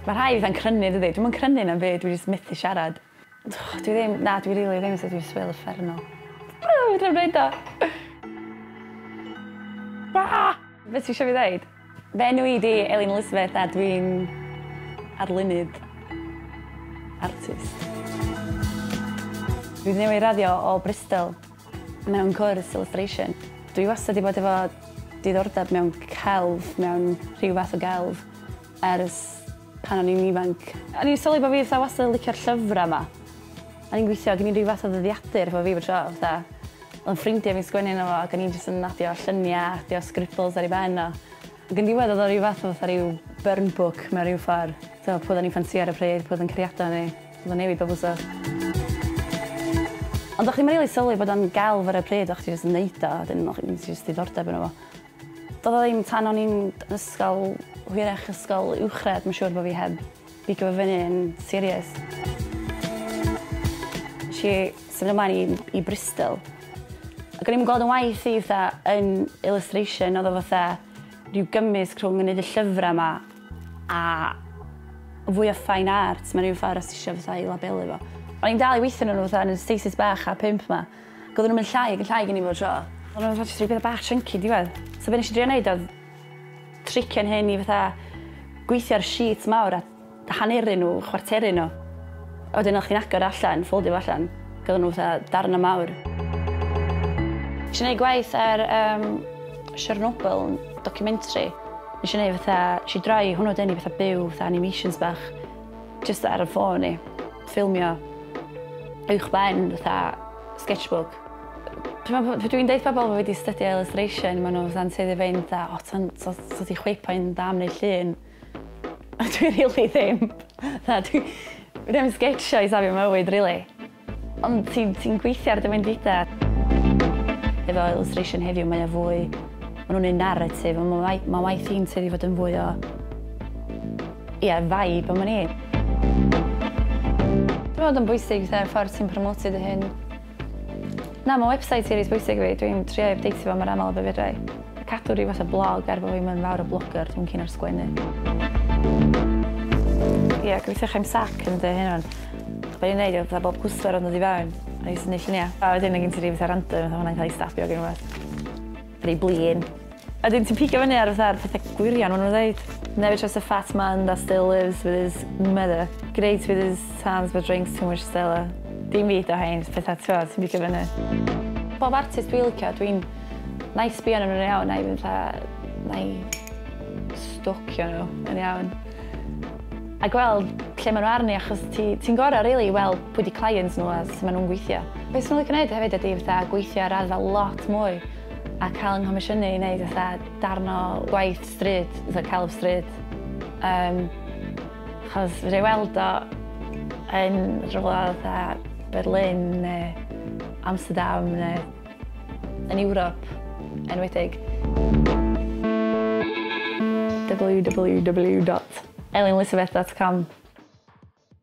Mae rhai fatha'n crynu dydi? Dwi'm yn crynu na'm byd, dwi jyst methu siarad. Dwi ddim, na dwi rili ddim, so dwi jyst fel uffernol. Aa! Fedrai'm neud o! Aa! Be' ti isio fi ddeud? Fy enw i 'di Elin Elizabeth a dwi'n arlunydd. Artist. Dwi newydd raddio o Bristol. Mewn cwrs illustration. Dwi wastad 'di bod efo diddordeb mewn celf, mewn rhyw fath o gelf, ers pan o'n i'n ifanc. O'n i'n sylwi bo' fi fatha wastad yn licio'r llyfra 'ma. O'n i'n gweithio, gin i ryw fath o ddyddiadur efo fi bob tro, fatha o'dd 'yn ffrindia fi'n sgwennu yno fo ac o'n i jyst yn adio llynia, adio scribbles ar ei ben o. Ac yn diwedd oedd o rhyw fath o fatha rhyw burn book mewn rhyw ffordd. Tibod, pwy oedden ni'n ffansïo ar y pryd, pwy oedd yn cariadon ni. Oedd o'n newid bob wsos. Ond o'ch chdi'm yn rili sylwi bod o'n gelf ar y pryd, o'ch chdi jyst yn neud o, wedyn o'ch gen ti jyst diddordeb yno fo. Doedd o ddim tan o'n i'n ysgol, hwyrach ysgol uwchradd, mae'n siŵr bod fi heb Pigo fy fyny yn serious. Nes i symud ymlaen i i Bristol ac o'n i'm yn gweld 'yn waith i fatha yn illustration o'dd o fatha ryw gymysg rhwng yn neud y llyfra 'ma a fwy o fine art mewn ryw ffor os tisio fatha i labelu fo. O'n i'n dal i weithio arnyn nw fatha yn y stasis bach a pump 'ma ac odden nw'n mynd llai ag yn llai gin i bob tro. O'n nw fatha jyst roi petha bach chunky diwedd so be' nesh i drio neud odd Trician hyn i fatha gweithio ar sheets mawr a haneru nhw, chwarteru nhw. A wedyn o'ch chi'n agor o allan, ffowldio fo allan, ac oedden nhw fatha darnau mawr. Nes i neud gwaith ar um, Chernobyl, documentary. Nes i neud fatha, nes i droi hwnnw dyn i fatha byw, fatha animations bach, just ar y ffôn i, ffilmio uwch ben fatha sketchbook. Dwi'n meddwl, dwi'n deud pobl wedi studio illustration, maen nhw fatha'n tueddu fe'n dda, o, ti'n so, so di chwipo'n dda am neu llun. A dwi really ddim. Dda, dwi, dwi ddim sketchio i safio mywyd, really. Ond ti'n ti gweithio ar dy mynd fida. Efo illustration heddiw, mae o fwy... Mae nhw'n un narratif, ond mae ma waith hi'n tueddu fod yn fwy o... Ie, yeah, vibe am ni. Dwi'n meddwl yn bwysig, fatha, ffordd ti'n promotio dy hyn. Na, mae website i reit bwysig fi. Dwi'n trio i updateio fo mor aml â be fedra i. Cadw rhyw fath o blog er bod fi'm yn fawr o blogger, dwi'n cyn ar sgwennu. Ie, yeah, gobeithio chi'n sac yn dweud hyn o'n. Be ni'n neud oedd bob cwswer oedd yn dod i fewn, a i syni lluniau. A wedyn mae gen ti rhyw fath o random, oedd hwnna'n cael ei stabio gen i Rhy blin. A wedyn ti'n pigo fyny ar fatha'r petha gwirion ma' nw'n ddeud. Never trust a fat man that still lives with his mother. Great with his hands but drinks too much Stella. Dim fi 'di o rhein, jyst petha t'mod ti'n pigo fyny. Pob artist dwi licio dwi'n... Na'i sbio arnyn nhw'n iawn a i fynd fatha na'i stocio nhw yn iawn. A gweld lle maen nhw arni achos ti ti'n gorau rili i weld pwy 'di client nhw a sut maen nhw'n gweithio. Be swn i'n licio neud hefyd ydi fatha gweithio ar raddfa lot mwy a cael 'nghomisiynu i neud fatha darn o gwaith stryd, fatha celf stryd yym achos fedra i weld o yn rhywle fatha Berlin neu Amsterdam neu yn Ewrop, enwedig. www.elinlisabeth.com